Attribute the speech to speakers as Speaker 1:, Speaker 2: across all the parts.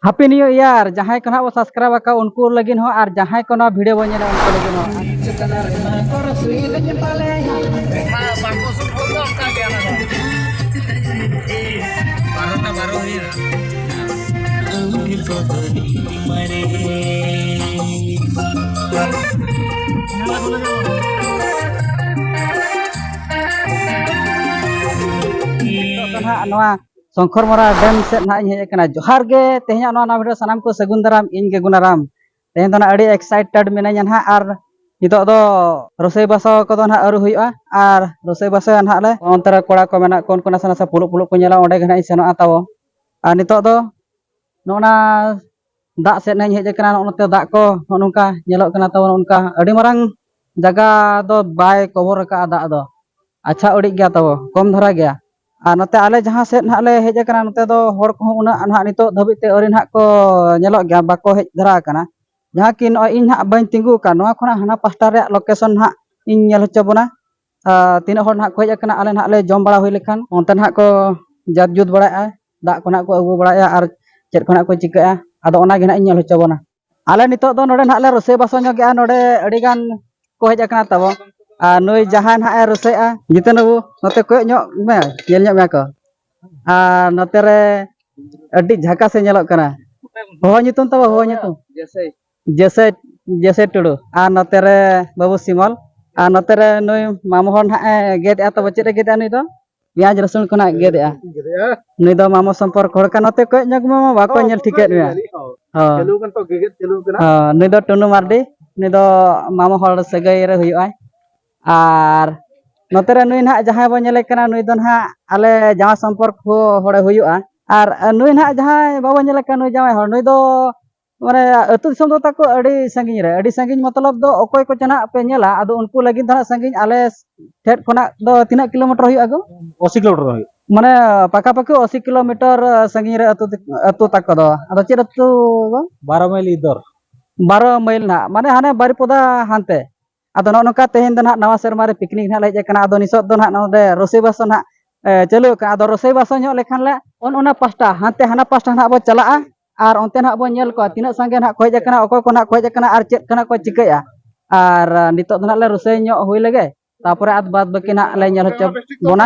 Speaker 1: ᱦᱟᱯᱤ new year ᱡᱟᱦᱟᱸᱭ ᱠᱚ ᱱᱟᱦᱟᱜ ᱵᱚ ᱥᱟᱵᱥᱠᱨᱟᱭᱤᱵ ᱟᱠᱟᱫ ᱩᱱᱠᱩ ᱞᱟᱹᱜᱤᱫ ᱦᱚᱸ ᱟᱨ ᱡᱟᱦᱟᱸᱭ ᱠᱚ ᱱᱚᱣᱟ ᱵᱷᱤᱰᱤᱭᱳ ᱵᱚᱱ ᱧᱮᱞᱟ ᱩᱱᱠᱩ ᱞᱟᱹᱜᱤᱫ ᱦᱚᱸ ᱵᱟᱨᱚᱴᱟ ᱵᱟᱨᱚ ᱦᱩᱭᱮᱱᱟ ᱱᱚᱣᱟ ᱥᱚᱝᱠᱚᱨ ᱢᱚᱨᱟ ᱰᱮᱢ ᱥᱮᱫ ᱱᱟᱦᱟᱜ ᱤᱧ ᱦᱮᱡ ᱟᱠᱟᱱᱟ ᱡᱚᱦᱟᱨ ᱜᱮ ᱛᱮᱦᱮᱧᱟᱜ ᱱᱚᱣᱟ ᱱᱟᱣᱟ ᱵᱷᱤᱰᱤᱭᱳ ᱥᱟᱱᱟᱢ ᱠᱚ ᱥᱟᱹᱜᱩᱱ ᱫᱟᱨᱟᱢ ᱤᱧ ᱜᱮ ᱜᱩᱱᱟᱨᱟᱢ ᱛᱮᱦᱮᱧ ᱫᱚ ᱱᱟᱦᱟᱜ ᱟᱹᱰᱤ ᱮᱠᱥᱟᱭᱴᱮᱰ ᱢᱤᱱᱟᱹᱧᱟ ᱱᱟᱦᱟᱜ ᱟᱨ ᱱᱤᱛᱚᱜ ᱫᱚ ᱨᱚᱥᱚᱭ ᱵᱟᱥᱟ ᱠᱚᱫᱚ ᱱᱟᱦᱟᱜ ᱟᱹᱣᱨᱤ ᱦᱩᱭᱩᱜᱼᱟ ᱟᱨ ᱨᱚᱥᱚᱭ ᱵᱟᱥᱟᱭᱟ ᱱᱟᱦᱟᱜ ᱞᱮ ᱚᱱᱛᱮ ᱨᱮ ᱠᱚᱲᱟ ᱠᱚ ᱢᱮᱱᱟᱜ ᱠᱚ ᱩᱱᱠᱩ ᱱᱟᱥᱮ ᱱᱟᱥᱮ ᱯᱩᱞᱩᱜ ᱯᱩᱞᱩᱜ ᱠᱚ ᱧᱮᱞᱟ ᱚᱸᱰᱮ ᱜᱮ ᱱᱟᱦᱟᱜ ᱤᱧ ᱥᱮᱱᱚᱜᱼᱟ ᱛᱟᱵᱚ ᱟᱨ ᱱᱤᱛᱚᱜ ᱫᱚ ᱱᱚᱜᱼᱱᱟ ᱫᱟᱜ ᱥᱮᱫ ᱱᱟᱦᱟᱜ ᱤᱧ ᱦᱮᱡ ᱟᱠᱟᱱᱟ ᱱᱚᱜᱼᱱᱚᱛᱮ ᱫᱟᱜ ᱠᱚ ᱱᱚᱜᱼᱚ ᱱᱚᱝᱠᱟ ᱧᱮᱞᱚᱜ ᱠᱟᱱᱟ ᱛᱟᱵᱚ ᱚᱱᱠᱟ ᱟᱹᱰᱤ ᱢᱟᱨᱟᱝ ᱡᱟᱭᱜᱟ ᱫᱚ ᱵᱟᱭ ᱠᱚᱵᱷᱚᱨ ᱟᱠᱟᱫᱼᱟ ᱫᱟᱜ ᱫᱚ ᱟᱪᱪᱷᱟ ᱩᱰᱤᱡ ᱜᱮᱭᱟ ᱛᱟᱵᱚ ᱠᱚᱢ ᱫᱷᱟᱨᱟ ᱜᱮᱭᱟ ᱟᱨ ᱱᱚᱛᱮ ᱟᱞᱮ ᱡᱟᱦᱟᱸ ᱥᱮᱫ ᱱᱟᱦᱟᱜ ᱞᱮ ᱦᱮᱡ ᱟᱠᱟᱱᱟ ᱱᱚᱛᱮ ᱫᱚ ᱦᱚᱲ ᱠᱚᱦᱚᱸ ᱩᱱᱟᱹᱜ ᱱᱟᱦᱟᱜ ᱱᱤᱛᱚᱜ ᱫᱷᱟᱹᱵᱤᱡ ᱛᱮ ᱟᱹᱣᱨᱤ ᱱᱟᱦᱟᱜ ᱠᱚ ᱧᱮᱞᱚᱜ ᱜᱮᱭᱟ ᱵᱟᱠᱚ ᱦᱮᱡ ᱫᱷᱟᱨᱟ ᱟᱠᱟᱱᱟ ᱡᱟᱦᱟᱸ ᱠᱤ ᱱᱚᱜᱼᱚᱭ ᱤᱧ ᱱᱟᱦᱟᱜ ᱵᱟᱹᱧ ᱛᱤᱸᱜᱩ ᱟᱠᱟᱱ ᱱᱚᱣᱟ ᱠᱷᱚᱱᱟᱜ ᱦᱟᱱᱟ ᱯᱟᱥᱴᱟ ᱨᱮᱭᱟᱜ ᱞᱳᱠᱮᱥᱚᱱ ᱱᱟᱦᱟᱜ ᱤᱧ ᱧᱮᱞ ᱦᱚᱪᱚ ᱵᱚᱱᱟ ᱛᱤᱱᱟᱹᱜ ᱦᱚᱲ ᱱᱟᱦᱟᱜ ᱠᱚ ᱦᱮᱡ ᱟᱠᱟᱱᱟ ᱟᱞᱮ ᱱᱟᱦᱟᱜ ᱞᱮ ᱡᱚᱢ ᱵᱟᱲᱟ ᱦᱩᱭ ᱞᱮᱠᱷᱟᱱ ᱚᱱᱛᱮ ᱱᱟᱦᱟᱜ ᱠᱚ ᱡᱟᱛ ᱡᱩᱛ ᱵᱟᱲᱟᱭᱮᱫᱼᱟ ᱫᱟᱜ ᱠᱚ ᱱᱟᱦᱟᱜ ᱠᱚ ᱟᱹᱜᱩ ᱵᱟᱲᱟᱭᱮᱫᱼᱟ ᱟᱨ ᱪᱮᱫ ᱠᱚ ᱱᱟᱦᱟᱜ ᱠᱚ ᱪᱤᱠᱟᱹᱭᱮᱫᱼᱟ ᱟᱫᱚ ᱚᱱᱟ ᱜᱮ ᱱᱟᱦᱟᱜ ᱤᱧ ᱧᱮᱞ ᱦᱚᱪᱚ ᱵᱚᱱᱟ ᱟᱞᱮ ᱱᱤᱛᱚᱜ ᱫᱚ ᱱᱚᱰᱮ ᱱᱟᱦᱟᱜ ᱞᱮ ᱨᱚᱥᱚᱭ ᱵᱟᱥᱚ ᱧᱚᱜᱮᱜᱼᱟ ᱱᱚᱰᱮ ᱟᱹᱰᱤ ᱜᱟᱱ ᱠᱚ ᱦᱮᱡ ᱟᱠᱟᱱᱟ ᱛᱟᱵᱚ ᱟᱨ ᱱᱩᱭ ᱡᱟᱦᱟᱸᱭ ᱱᱟᱦᱟᱜ ᱮ ᱨᱚᱥᱚᱭᱮᱜᱼᱟ ᱡᱤᱛᱮᱱ ᱵᱟᱹᱵᱩ ᱱᱚᱛᱮ ᱠᱚᱭᱚᱜ ᱧᱚᱜ ᱢᱮ ᱧᱮᱞ ᱧᱚᱜ ᱢᱮᱭᱟ ᱠᱚ ᱟᱨ ᱱᱚᱛᱮ ᱨᱮ ᱟᱹᱰᱤ ᱡᱷᱟᱠᱟᱥ ᱮ ᱧᱮᱞᱚᱜ ᱠᱟᱱᱟ ᱦᱚᱦᱚ ᱧᱩᱛᱩᱢ ᱛᱟᱵᱚ ᱦᱚᱦᱚ ᱧᱩᱛᱩᱢ ᱡᱮᱥᱮ ᱡᱮᱥᱮ ᱴᱩᱰᱩ ᱟᱨ ᱱᱚᱛᱮ ᱨᱮ ᱵᱟᱹᱵᱩ ᱥᱤᱢᱚᱞ ᱟᱨ ᱱᱚᱛᱮ ᱨᱮ ᱱᱩᱭ ᱢᱟᱢᱚ ᱦᱚᱲ ᱱᱟᱦᱟᱜ ᱮ ᱜᱮᱫᱮᱜᱼᱟ ᱛᱟᱵᱚ ᱪᱮᱫ ᱮ ᱜᱮᱫᱮᱜᱼᱟ ᱱᱩᱭ ᱫᱚ ᱯᱮᱸᱭᱟᱡᱽ ᱨᱟᱹᱥᱩᱱ ᱠᱷᱚᱱᱟᱜ ᱜᱮᱫᱮᱜᱼᱟ ᱱᱩᱭ ᱫᱚ ᱢᱟᱢᱚ ᱥᱚᱢᱯᱚᱨᱠ ᱦᱚᱲ ᱠᱟᱱᱟ ᱱᱚᱛᱮ ᱠᱚᱭᱚᱜ ᱧᱚᱜᱽ ᱢᱮ ᱵᱟᱠᱚ ᱧᱮᱞ ᱴᱷᱤᱠᱟᱹᱭᱮᱫ ᱢᱮᱭᱟ ᱦᱚᱸ ᱱᱩᱭ ᱫᱚ ᱴᱩᱱᱩ ᱢᱟᱨᱰᱤ ᱱᱩᱭ ᱫᱚ ᱢᱟᱢᱚ ᱦᱚᱲ ᱥᱟᱹᱜᱟᱹᱭ ᱨᱮ ᱦᱩᱭᱩᱜᱼᱟᱭ ᱟᱨ ᱱᱚᱛᱮ ᱨᱮ ᱱᱩᱭ ᱱᱟᱦᱟᱜ ᱡᱟᱦᱟᱸᱭ ᱵᱚᱱ ᱧᱮᱞᱮ ᱠᱟᱱᱟ ᱱᱩᱭ ᱫᱚ ᱱᱟᱦᱟᱜ ᱟᱞᱮ ᱡᱟᱶᱟᱭ ᱥᱚᱢᱯᱚᱨᱠ ᱦᱚᱲᱮ ᱦᱩᱭᱩᱜᱼᱟ ᱟᱨ ᱱᱩᱭ ᱱᱟᱦᱟᱜ ᱡᱟᱦᱟᱸᱭ ᱵᱟᱵᱚᱱ ᱧᱮᱞᱮ ᱠᱟᱱ ᱱᱩᱭ ᱡᱟᱶᱟᱭ ᱦᱚᱲ ᱱᱩᱭ ᱫᱚ ᱢᱟᱱᱮ ᱟᱹᱛᱩ ᱫᱤᱥᱚᱢ ᱫᱚ ᱛᱟᱠᱚ ᱟᱹᱰᱤ ᱥᱟᱺᱜᱤᱧ ᱨᱮ ᱟᱹᱰᱤ ᱥᱟᱺᱜᱤᱧ ᱢᱚᱛᱞᱚᱵ ᱫᱚ ᱚᱠᱚᱭ ᱠᱚ ᱪᱟᱱᱟᱜ ᱯᱮ ᱧᱮᱞᱟ ᱟᱫᱚ ᱩᱱᱠᱩ ᱞᱟᱹᱜᱤᱫ ᱫᱚ ᱦᱟᱸᱜ ᱥᱟᱺᱜᱤᱧ ᱟᱞᱮ ᱴᱷᱮᱡ ᱠᱷᱚᱱᱟᱜ ᱫᱚ ᱛᱤᱱᱟᱹᱜ ᱠᱤᱞᱳᱢᱤᱴᱟᱨ ᱦᱩᱭᱩᱜᱼᱟ ᱜᱚ ᱚᱥᱤ ᱠᱤᱞᱳᱢᱤᱴᱟᱨ ᱦᱩᱭᱩᱜᱼᱟ ᱢᱟᱱᱮ ᱯᱟᱠᱟ ᱯᱟᱠᱤ ᱚᱥᱤ ᱠᱤᱞᱳᱢᱤᱴᱟᱨ ᱥᱟᱺᱜᱤᱧ ᱨᱮ ᱟᱹᱛᱩ ᱟᱹᱛᱩ ᱛᱟᱠᱚ ᱫᱚ ᱟᱫᱚ ᱪᱮᱫ ᱟᱹᱛᱩ ᱜᱚ ᱵᱟᱨᱚ ᱢᱟᱹᱭᱞ ᱤᱫᱚᱨ ᱵᱟᱨᱚ ᱢᱟᱹᱭᱞ ᱱᱟᱜ ᱢᱟᱱᱮ ᱦᱟᱱᱮ ᱵᱟᱨᱤᱯᱚᱫᱟ ᱦᱟᱱᱛᱮ ᱟᱫᱚ ᱱᱚᱜᱼᱚ ᱱᱚᱝᱠᱟ ᱛᱮᱦᱮᱧ ᱫᱚ ᱱᱟᱦᱟᱜ ᱱᱟᱣᱟ ᱥᱮᱨᱢᱟ ᱨᱮ ᱯᱤᱠᱱᱤᱠ ᱱᱟᱦᱟᱜ ᱞᱮ ᱦᱮᱡ ᱟᱠᱟᱱᱟ ᱟᱫᱚ ᱱᱤᱛᱚᱜ ᱫᱚ ᱱᱟᱦᱟᱜ ᱱᱚᱰᱮ ᱨᱚᱥᱚᱭ ᱵᱟᱥ ᱱᱟᱦᱟᱜ ᱪᱟᱹᱞᱩ ᱟᱠᱟᱱᱟ ᱟᱫᱚ ᱨᱚᱥᱚᱭ ᱵᱟᱥ ᱧᱚᱜ ᱞᱮᱠᱷᱟᱱ ᱞᱮ ᱚᱱ ᱚᱱᱟ ᱯᱟᱥᱴᱟ ᱦᱟᱱᱛᱮ ᱦᱟᱱᱟ ᱯᱟᱥᱴᱟ ᱱᱟᱦᱟᱜ ᱵᱚ ᱪᱟᱞᱟᱜᱼᱟ ᱟᱨ ᱚᱱᱛᱮ ᱱᱟᱦᱟᱜ ᱵᱚ ᱧᱮᱞ ᱠᱚᱣᱟ ᱛᱤᱱᱟᱹᱜ ᱥᱟᱸᱜᱮ ᱱᱟᱦᱟᱜ ᱠᱚ ᱦᱮᱡ ᱟᱠᱟᱱᱟ ᱚᱠᱚᱭ ᱠᱚ ᱱᱟᱦᱟᱜ ᱠᱚ ᱦᱮᱡ ᱟᱠᱟᱱᱟ ᱟᱨ ᱪᱮᱫ ᱠᱟᱱᱟ ᱠᱚ ᱪᱤᱠᱟᱹᱭᱟ ᱟᱨ ᱱᱤᱛᱚᱜ ᱫᱚ ᱱᱟᱦᱟᱜ ᱞᱮ ᱨᱚᱥᱚᱭ ᱧᱚᱜ ᱦᱩᱭ ᱞᱮᱜᱮ ᱛᱟᱨᱯᱚᱨᱮ ᱟᱫᱚ ᱵᱟᱫᱽ ᱵᱟᱹᱠᱤ ᱱᱟᱦᱟᱜ ᱞᱮ ᱧᱮᱞ ᱦᱚᱪᱚ ᱵᱚᱱᱟ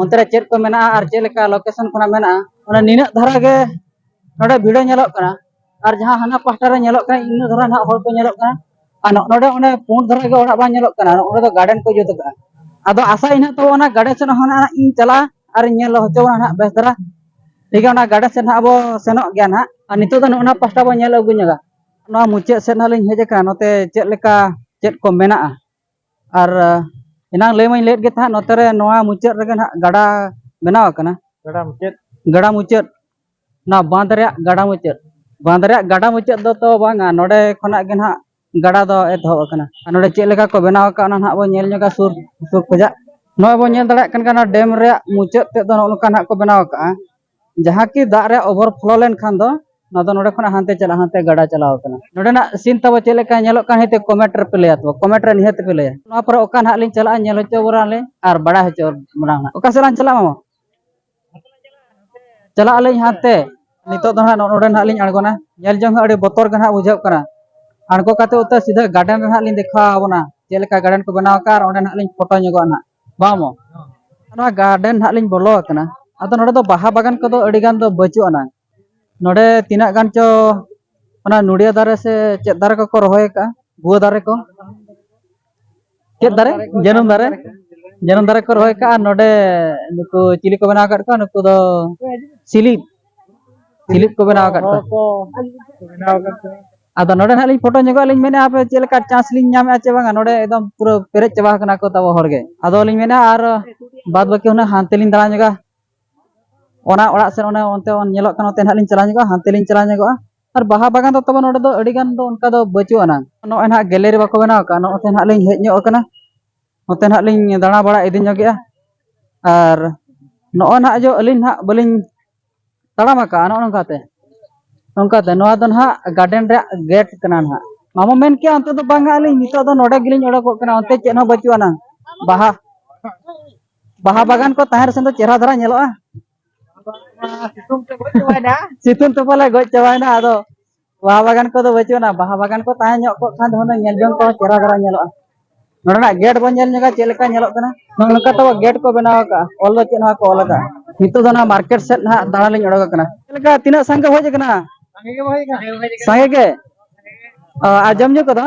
Speaker 1: ᱚᱱᱛᱮ ᱨᱮ ᱪᱮᱫ ᱠᱚ ᱢᱮᱱᱟᱜᱼᱟ ᱟᱨ ᱪᱮᱫ ᱞᱮᱠᱟ ᱞᱳᱠᱮᱥᱚᱱ ᱠᱷᱚᱱᱟᱜ ᱢᱮᱱᱟᱜᱼᱟ ᱚᱱᱟ ᱱᱤᱱᱟᱹᱜ ᱫᱷᱟᱨᱟ ᱜᱮ ᱱᱚᱰᱮ ᱵᱷᱤᱲᱟᱹ ᱧᱮᱞᱚᱜ ᱠᱟᱱᱟ ᱟᱨ ᱡᱟᱦᱟᱸ ᱦᱟᱱᱟ ᱯᱟᱦᱴᱟ ᱨᱮ ᱧᱮᱞᱚᱜ ᱠᱟᱱᱟ ᱤᱱᱟᱹ ᱫᱷᱟᱨᱟ ᱱᱟᱦᱟᱜ ᱦᱚᱲ ᱠᱚ ᱧᱮᱞᱚᱜ ᱠᱟᱱᱟ ᱟᱨ ᱱᱚᱰᱮ ᱚᱱᱮ ᱯᱩᱸᱰ ᱫᱷᱟᱨᱟ ᱜᱮ ᱚᱲᱟᱜ ᱵᱟᱝ ᱧᱮᱞᱚᱜ ᱠᱟᱱᱟ ᱱᱚᱰᱮ ᱫᱚ ᱜᱟᱨᱰᱮᱱ ᱠᱚ ᱡᱩᱛ ᱟᱠᱟᱫᱼᱟ ᱟᱫᱚ ᱟᱥᱟ ᱤᱱᱟᱹᱜ ᱛᱟᱵᱚ ᱚᱱᱟ ᱜᱟᱨᱰᱮᱱ ᱥᱮᱫ ᱦᱚᱸ ᱱᱟᱦᱟᱜ ᱤᱧ ᱪᱟᱞᱟᱜᱼᱟ ᱟᱨ ᱤᱧ ᱧᱮᱞ ᱦᱚᱪᱚ ᱵᱚᱱᱟ ᱱᱟᱦᱟᱜ ᱵᱮᱥ ᱫᱷᱟᱨᱟ ᱴᱷᱤᱠ ᱜᱮᱭᱟ ᱚᱱᱟ ᱜᱟᱨᱰᱮᱱ ᱥᱮᱫ ᱱᱟᱦᱟᱜ ᱟᱵᱚ ᱥᱮᱱᱚᱜ ᱜᱮᱭᱟ ᱱᱟᱦᱟᱜ ᱟᱨ ᱱᱤᱛᱚᱜ ᱫᱚ ᱱᱚᱜᱼᱚᱱᱟ ᱯᱟᱦᱴᱟ ᱵᱚᱱ ᱧᱮᱞ ᱟᱹᱜᱩ ᱧᱚᱜᱟ ᱱᱚᱣᱟ ᱢᱩᱪᱟᱹᱫ ᱥᱮᱫ ᱱᱟᱦᱟᱜ ᱞᱤᱧ ᱦᱮᱡ ᱟᱠᱟᱱᱟ ᱱᱚᱛᱮ ᱪᱮᱫ ᱞᱮᱠᱟ ᱪᱮᱫ ᱠᱚ ᱢᱮᱱᱟᱜᱼᱟ ᱟᱨ ᱮᱱᱟᱝ ᱞᱟᱹᱭ ᱢᱟᱹᱧ ᱞᱟᱹᱭᱮᱫ ᱜᱮ ᱛᱟᱦᱮᱸᱫ ᱱᱚᱛᱮ ᱨᱮ ᱱᱚᱣᱟ ᱢᱩᱪᱟᱹᱫ ᱨᱮᱜᱮ ᱱᱟᱦᱟᱜ ᱜᱟᱰᱟ ᱵᱮᱱᱟᱣ ᱟᱠᱟᱱᱟ ᱜᱟᱰᱟ ᱢᱩᱪᱟᱹᱫ ᱜᱟᱰᱟ ᱢᱩᱪᱟᱹᱫ ᱱᱚᱣᱟ ᱵᱟᱸᱫᱽ ᱨᱮᱭᱟᱜ ᱜᱟᱰᱟ ᱢᱩᱪᱟᱹᱫ ᱵᱟᱸᱫᱽ ᱨᱮᱭᱟᱜ ᱜᱟᱰᱟ ᱢᱩᱪᱟᱹᱫ ᱫᱚ ᱛᱚ ᱵᱟᱝᱟ ᱱᱚᱰᱮ ᱠᱷᱚᱱᱟᱜ ᱜᱮ ᱱᱟᱦᱟᱜ ᱜᱟᱰᱟ ᱫᱚ ᱮᱛᱚᱦᱚᱵ ᱟᱠᱟᱱᱟ ᱟᱨ ᱱᱚᱰᱮ ᱪᱮᱫ ᱞᱮᱠᱟ ᱠᱚ ᱵᱮᱱᱟᱣ ᱟᱠᱟᱫ ᱚᱱᱟ ᱱᱟᱦᱟᱜ ᱵᱚᱱ ᱧᱮᱞ ᱧᱚᱜᱟ ᱥᱩᱨ ᱥᱩᱨ ᱠᱷᱚᱡᱟᱜ ᱱᱚᱜᱼᱚᱭ ᱵᱚᱱ ᱧᱮᱞ ᱫᱟᱲᱮᱭᱟᱜ ᱠᱟᱱ ᱜᱮᱭᱟ ᱱᱚᱣᱟ ᱰᱮᱢ ᱨᱮᱭᱟᱜ ᱢᱩᱪᱟᱹᱫ ᱛᱮᱫ ᱫᱚ ᱱᱚᱜᱼᱚ ᱱᱚᱝᱠᱟ ᱱᱟᱦᱟᱜ ᱠᱚ ᱵᱮᱱᱟᱣ ᱟᱠᱟᱫᱼᱟ ᱡᱟᱦᱟᱸ ᱠᱤ ᱫᱟᱜ ᱨᱮ ᱚᱵᱷᱚᱨ ᱯᱷᱞᱳ ᱞᱮᱱᱠᱷᱟᱱ ᱫᱚ ᱱᱚᱣᱟ ᱫᱚ ᱱᱚᱰᱮ ᱠᱷᱚᱱᱟᱜ ᱦᱟᱱᱛᱮ ᱪᱟᱞᱟᱜ ᱦᱟᱱᱛᱮ ᱜᱟᱰᱟ ᱪᱟᱞᱟᱣ ᱠᱟᱱᱟ ᱱᱚᱰᱮᱱᱟᱜ ᱥᱤᱱ ᱛᱟᱵᱚ ᱪᱮᱫ ᱞᱮᱠᱟ ᱧᱮᱞᱚᱜ ᱠᱟᱱ ᱦᱤᱛᱮ ᱠᱚᱢᱮᱱᱴ ᱨᱮ ᱯᱮ ᱞᱟᱹᱭᱟ ᱛᱚ ᱠᱚᱢᱮᱱᱴ ᱨᱮ ᱱᱤᱦᱟᱹᱛ ᱯᱮ ᱞᱟᱹᱭᱟ ᱱᱚᱣᱟ ᱯᱚᱨᱮ ᱚᱠᱟ ᱱᱟᱦᱟᱜ ᱞᱤᱧ ᱪᱟᱞᱟᱜᱼᱟ ᱧᱮᱞ ᱦᱚᱪᱚ ᱵᱚᱱᱟ ᱞᱤᱧ ᱟᱨ ᱵᱟᱲᱟᱭ ᱦᱚᱪᱚ ᱵᱚᱱᱟ ᱱᱟᱦᱟᱜ ᱚᱠᱟ ᱥᱮᱫ ᱞᱟᱝ ᱪᱟᱞᱟᱜᱼᱟ ᱢᱟᱢᱟ ᱪᱟᱞᱟᱜ ᱟᱹᱞᱤᱧ ᱦᱟᱱᱛᱮ ᱱᱤᱛᱚᱜ ᱫᱚ ᱱᱟᱦᱟᱜ ᱱᱚᱰᱮ ᱱᱟᱦᱟᱜ ᱞᱤᱧ ᱟᱬᱜᱚᱱᱟ ᱧᱮᱞ ᱡᱚᱝ ᱦᱚᱸ ᱟᱹᱰᱤ ᱵᱚᱛᱚᱨ ᱜᱮ ᱱᱟᱦᱟᱜ ᱵᱩᱡᱷᱟᱹᱜ ᱠᱟᱱᱟ ᱟᱬᱜᱚ ᱠᱟᱛᱮ ᱩᱛᱟᱹᱨ ᱥᱤᱫᱷᱟᱹ ᱜᱟᱨᱰᱮᱱ ᱨᱮ ᱱᱟᱦᱟᱜ ᱞᱤᱧ ᱫᱮᱠᱷᱟᱣ ᱟᱵᱚᱱᱟ ᱪᱮᱫ ᱞᱮᱠᱟ ᱜᱟᱨᱰᱮᱱ ᱠᱚ ᱵᱮᱱᱟᱣ ᱟᱠᱟᱫᱼᱟ ᱟᱨ ᱚᱸᱰᱮ ᱱᱟᱦᱟᱜ ᱞᱤᱧ ᱯᱷᱳᱴᱳ ᱧᱚᱜᱚᱜᱼᱟ ᱱᱟᱦᱟᱜ ᱵᱟᱢᱚ ᱱᱚᱣᱟ ᱜᱟᱨᱰᱮᱱ ᱦᱟᱸᱜ ᱞᱤᱧ ᱵᱚᱞᱚ ᱟᱠᱟᱱᱟ ᱟᱫᱚ ᱱᱚᱰᱮ ᱫᱚ ᱵᱟᱦᱟ ᱵᱟᱜᱟᱱ ᱠᱚᱫᱚ ᱟᱹᱰᱤ ᱜᱟᱱ ᱫᱚ ᱵᱟᱹᱪᱩᱜ ᱟᱱᱟᱝ ᱱᱚᱰᱮ ᱛᱤᱱᱟᱹᱜ ᱜᱟᱱ ᱪᱚ ᱚᱱᱟ ᱱᱩᱲᱤᱭᱟ ᱫᱟᱨᱮ ᱥᱮ ᱪᱮᱫ ᱫᱟᱨᱮ ᱠᱚᱠᱚ ᱨᱚᱦᱚᱭ ᱟᱠᱟᱫᱼᱟ ᱜᱩᱣᱟᱹ ᱫᱟᱨᱮ ᱠᱚ ᱪᱮᱫ ᱫᱟᱨᱮ ᱡᱟᱹᱱᱩᱢ ᱫᱟᱨᱮ ᱡᱟᱹᱱᱩᱢ ᱫᱟᱨᱮ ᱠᱚ ᱨᱚᱦᱚᱭ ᱟᱠᱟᱫᱼᱟ ᱱᱚᱰᱮ ᱱᱩᱠᱩ ᱪᱤᱞᱤ ᱠᱚ ᱵᱮᱱᱟᱣ ᱟᱠᱟᱫ ᱠᱚᱣᱟ ᱱᱩᱠᱩ ᱫᱚ ᱥᱤᱞᱤᱯ ᱥᱤᱞᱤᱯ ᱠᱚ ᱵᱮᱱᱟᱣ ᱟᱠᱟᱫ ᱠᱚᱣᱟ ᱠᱚ ᱵᱮᱱᱟᱣ ᱟᱠᱟᱫ ᱠᱚᱣᱟ ᱟᱫᱚ ᱱᱚᱰᱮ ᱱᱟᱦᱟᱜ ᱞᱤᱧ ᱯᱷᱳᱴᱳ ᱧᱚᱜᱚᱜ ᱞᱤᱧ ᱢᱮᱱᱮᱫᱼᱟ ᱟᱯᱮ ᱪᱮᱫ ᱞᱮᱠᱟ ᱪᱟᱱᱥ ᱞᱤᱧ ᱧᱟᱢᱮᱫᱼᱟ ᱪᱮ ᱵᱟᱝᱟ ᱱᱚᱰᱮ ᱮᱠᱫᱚᱢ ᱯᱩᱨᱟᱹ ᱯᱮᱨᱮᱡ ᱪᱟᱵᱟ ᱟᱠᱟᱱᱟ ᱠᱚ ᱛᱟᱵᱚ ᱦᱚᱲ ᱜᱮ ᱟᱫᱚ ᱞᱤᱧ ᱢᱮᱱᱟ ᱟᱨ ᱵᱟᱫ ᱵᱟᱹᱠᱤ ᱦᱩᱱᱟᱹᱝ ᱦᱟᱱᱛᱮ ᱞᱤᱧ ᱫᱟᱬᱟ ᱧᱚᱜᱟ ᱚᱱᱟ ᱚᱲᱟᱜ ᱥᱮᱫ ᱚᱱᱟ ᱚᱱᱛᱮ ᱧᱮᱞᱚᱜ ᱠᱟᱱᱟ ᱚᱱᱛᱮ ᱱᱟᱦᱟᱜ ᱞᱤᱧ ᱪᱟᱞᱟᱣ ᱧᱚᱜᱚᱜᱼᱟ ᱦᱟᱱᱛᱮ ᱞᱤᱧ ᱪᱟᱞᱟᱣ ᱧᱚᱜᱚᱜᱼᱟ ᱟᱨ ᱵᱟᱦᱟ ᱵᱟᱜᱟᱱ ᱫᱚ ᱛᱟᱵᱚ ᱱᱚᱰᱮ ᱫᱚ ᱟᱹᱰᱤ ᱜᱟᱱ ᱫᱚ ᱚᱱᱠᱟ ᱫᱚ ᱵᱟᱹᱪᱩᱜ ᱟᱱᱟᱝ ᱱᱚᱜᱼᱚᱭ ᱱᱟᱦᱟᱜ ᱜᱮᱞᱮᱨᱤ ᱵᱟᱠᱚ ᱵᱮᱱᱟᱣ ᱟᱠᱟᱫᱼᱟ ᱱᱚᱜᱼᱚᱭ ᱱᱟᱦᱟᱜ ᱞᱤᱧ ᱦᱮᱡ ᱧᱚᱜ ᱟᱠᱟᱱᱟ ᱱᱚᱛᱮ ᱱᱟᱦᱟᱜ ᱞᱤᱧ ᱫᱟᱬᱟ ᱵᱟᱲᱟ ᱤᱫᱤ ᱧᱚᱜᱮᱜᱼᱟ ᱟᱨ ᱱᱚᱜᱼᱚᱭ ᱱᱟᱦᱟᱜ ᱡᱮ ᱟᱹᱞᱤᱧ ᱱᱟᱦᱟᱜ ᱵᱟᱹᱞᱤᱧ ᱛᱟᱲᱟᱢ ᱟᱠᱟᱫᱼᱟ ᱱᱚᱜᱼᱚ ᱱᱚᱝᱠᱟᱛᱮ ᱱᱚᱝᱠᱟᱛᱮ ᱱᱚᱣᱟ ᱫᱚ ᱱᱟᱦᱟᱜ ᱜᱟᱨᱰᱮᱱ ᱨᱮᱭᱟᱜ ᱜᱮᱴ ᱠᱟᱱᱟ ᱱᱟᱦᱟᱜ ᱢᱟᱢᱚ ᱢᱮᱱ ᱠᱮᱜᱼᱟ ᱚᱱᱛᱮ ᱫᱚ ᱵᱟᱝᱟ ᱟᱹᱞᱤᱧ ᱱᱤᱛᱚᱜ ᱫᱚ ᱱᱚᱰᱮ ᱜᱮᱞᱤᱧ ᱚᱰᱚᱠᱚᱜ ᱠᱟᱱᱟ ᱚᱱᱛᱮ ᱪᱮᱫ ᱦᱚᱸ ᱵᱟᱹᱪᱩᱜ ᱟᱱᱟᱝ ᱵᱟᱦᱟ ᱵᱟᱦᱟ ᱵᱟᱜᱟᱱ ᱠᱚ ᱛᱟᱦᱮᱸ ᱨᱮᱥᱮ ᱫᱚ ᱪᱮᱦᱨᱟ ᱫᱷᱟᱨᱟ ᱧᱮᱞᱚᱜᱼᱟ ᱥᱤᱛᱩᱝ ᱛᱮ ᱯᱟᱞᱮ ᱜᱚᱡ ᱪᱟᱵᱟᱭᱮᱱᱟ ᱟᱫᱚ ᱵᱟᱦᱟ ᱵᱟᱜᱟᱱ ᱠᱚᱫᱚ ᱵᱟᱹᱪᱩᱜ ᱟᱱᱟ ᱵᱟᱦᱟ ᱵᱟᱜᱟᱱ ᱠᱚ ᱛᱟᱦᱮᱸ ᱧᱚᱜ ᱠᱚᱜ ᱠᱷᱟᱱ ᱫᱚ ᱦᱩᱱᱟᱹᱝ ᱧᱮᱞ ᱡᱚᱝ ᱠᱚ ᱪᱮᱦᱨᱟ ᱫᱷᱟᱨᱟ ᱧᱮᱞᱚᱜᱼᱟ ᱱᱚᱰᱮᱱᱟᱜ ᱜᱮᱴ ᱵᱚᱱ ᱧᱮᱞ ᱧᱚᱜᱟ ᱪᱮᱫ ᱞᱮᱠᱟ ᱧᱮᱞᱚᱜ ᱠᱟᱱᱟ ᱱᱚᱜᱼᱚ ᱱᱚᱝᱠᱟ ᱛᱟᱵᱚ ᱜᱮᱴ ᱠᱚ ᱵᱮᱱᱟᱣ ᱟᱠᱟᱜᱼᱟ ᱚᱞ ᱫᱚ ᱪᱮᱫ ᱦᱚᱸ ᱵᱟᱠᱚ ᱚᱞ ᱟᱠᱟᱜᱼᱟ ᱱᱤᱛᱚᱜ ᱫᱚ ᱱᱚᱣᱟ ᱢᱟᱨᱠᱮᱴ ᱥᱮᱫ ᱱᱟᱦᱟᱜ ᱫᱟᱬᱟ ᱞᱤᱧ ᱚᱰᱚᱠ ᱟᱠᱟᱱᱟ ᱪᱮᱫ ᱞᱮᱠᱟ ᱛᱤᱱᱟᱹᱜ ᱥᱟᱸᱜᱮ ᱦᱮᱡ ᱟᱠᱟᱱᱟ ᱥᱟᱸᱜᱮ ᱜᱮ ᱟᱨ ᱡᱚᱢ ᱧᱩ ᱠᱚᱫᱚ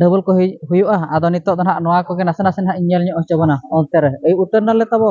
Speaker 1: ᱰᱚᱵᱚᱞ ᱠᱚ ᱦᱩᱭᱩᱜᱼᱟ ᱟᱫᱚ ᱱᱤᱛᱚᱜ ᱫᱚ ᱱᱟᱦᱟᱜ ᱱᱚᱣᱟ ᱠᱚᱜᱮ ᱱᱟᱥᱮ ᱱᱟᱥᱮ ᱱᱟᱦᱟᱜ ᱤᱧ ᱧᱮᱞ ᱧᱚᱜ ᱦᱚᱪᱚ ᱵᱚᱱᱟ ᱚᱱᱛᱮ ᱨᱮ ᱮᱭ ᱩᱛᱟᱹᱨ ᱱᱟᱞᱮ ᱛᱟᱵᱚ